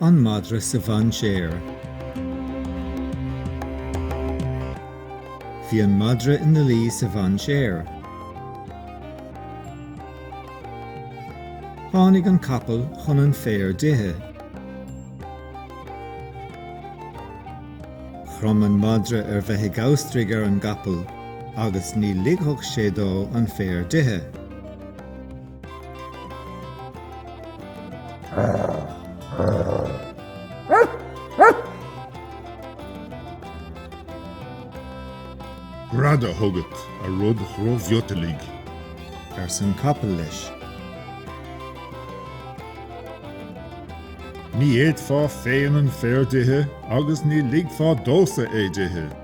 An madra sa mhainséar. Bhí an madra ina luí sa mhainséar. Tháinig an capall chun an féar d'ithe. Chrom an madra ar bheith ag amhastraigh ar an gcapall agus ní ligfeadh sé dó an féar d'ithe. Greadadh chugat, a rud dhrochmhiotalaigh, arsan capall leis. Ní fhéadfá féin an féar d'ithe agus ní ligfeá domhsa é d'ithe.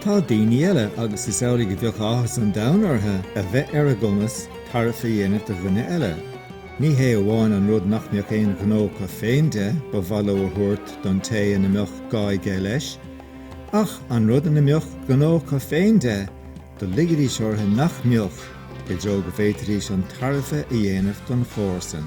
Tá daoine eile, agus is amhlaidh a bheadh áthas an domhain orthu a bheith ar a gcumas tairbhe a dhéanamh do dhuine eile. Ní hé amháin an rud nach mbeadh aon ghnó acu féin de, ba mhaith leo a thabhairt don té ina mbeadh gá aige leis, ach an rud ina mbeadh gnó acu féin de, do ligidís orthu nach mbeadh, i dtreo go bhféadfaidís an tairbhe a dhéanamh don chomharsan.